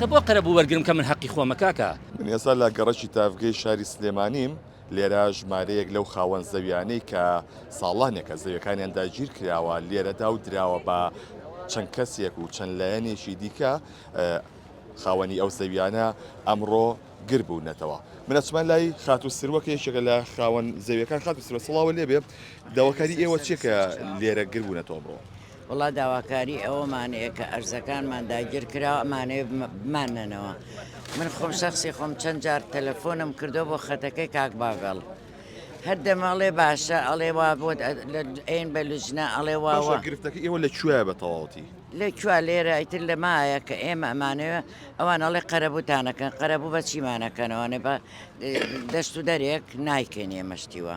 کە بۆ قەرەبوو وەرگرم کە من هەقی خۆمە کاکە. من ئێستا لە گەڕەکی تاڤگەی شاری سلێمانیم، لێرە ژمارەیەک لەو خاوەن زەویانەی کە ساڵانێکە زەویەکانیان داگیر کراوە لێرەدا و دراوە بە چەند کەسێک و چەند لایەنێکی دیکە خاوەنی ئەو زەویانە ئەمڕۆ گر بوونەتەوە من ئەچمە لای خاتوو سروەکە یەکێکە لە خاوەن زەویەکان خاتوو سروە سڵاوە لێبێ داواکاری ئێوە چێکە لێرە گر بوونەتەوە بڕۆ وەڵا داواکاری ئەوەمان هەیە کە ئەرزەکانمان داگیرکراوە ئەمانەوێ بمانەنەوە من خۆم شخصی خۆم چەند جار تەلەفۆنم کردو بۆ خەتەکەی کاک باڤڵ هەر دەمەڵێ باشە ئەڵێ وا بۆ ئەین بە لوجنا ئەڵێ واوە گرفتەکە ئێوە لە کوێ بە تەواوەتی لە کوا لێرە ئیتر لە مایە کە ئێمە ئەمانەوە ئەوان ئەڵێ قەرەبووتانەکەن قەرەبوو بە چیمانەکەنەوەێ بە دەشت و دەرێک نایکەین ئێمەشتیوە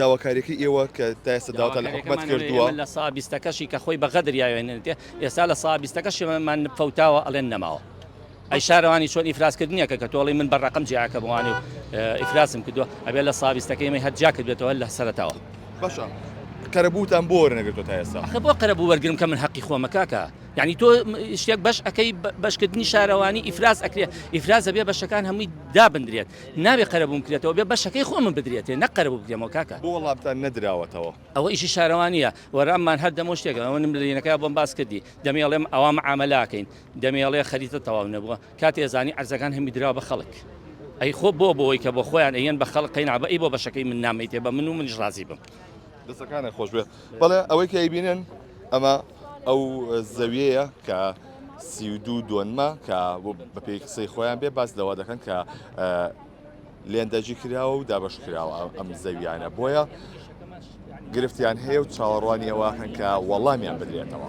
داواکاریەکەی ئێوە کە تا ئێستا داواتان لە حکومەت کردووە؟ لە سا بیستەکەشی کە خۆی بە غەدر یاوێنێتێ ئێستا لە سا بیستەکەشیمان فەوتاوە ئەڵێن نەماوە ئەی شارەوانی چۆن ئیفراسکردنیەکە کە تۆڵی من بە ڕقم جیاکە بووانێ و ئیفراسم کردووە ئەبێ لە سابیستەکەی مە هەر جاکرد بێتەوە لە سەرتاوە باشە قەرەبووتان بۆ وەرنەگرتو تا ئێستا خە بۆ قەرەبوو وەرگرم کە من حەقی خۆمە کاکە یعنی تۆ شتێک بەش ئەەکەی بەشکردنی شارەوانی ئیفراز ئەکرێت ئیفراز ئەبێ بەشەکان هەمووی دابدرێت نابێ قەرەبووم بکرێتەوە بێ بەشەکەی خۆمم بدرێتێ نەک قەرەبوو بکرێمەوە کاکە. بۆ وەڵامتان نەدراوەتەوە؟ ئەوە ئیشی شارەوانییە وەراممان هەر دەمەوە شتێک ئەوە نمرەینەکە بۆم باس کردی دەمێڵێم ئەوا معامەلاکەین دەمێڵێ خەریتە تەواو نەبووە کاتی ئەزانی عەرزەکان هەمی دراوە بە خەڵک ئەی خۆ بۆ بۆی کە بۆ خۆیان ئەیەن بە خەڵک قەینا بە ئەی بۆ بەشەکەی من نامەیتێ بە من و منیش ڕازی بم دەستەکانت خۆشبێت بەڵێ ئەوەی کە ئەیبینن ئەمە ئەو زەویەیە کە سی و دوو دۆنمە کە بە پێی قسەی خۆیان بێ باس لەوە دەکەن کە لێندەجی کراوە و دابش کراوە ئەم زەویانە بۆیە گرفتیان هەیە و چاوەڕوانیەوە هەن کە وەڵامیان بدرێتەوە.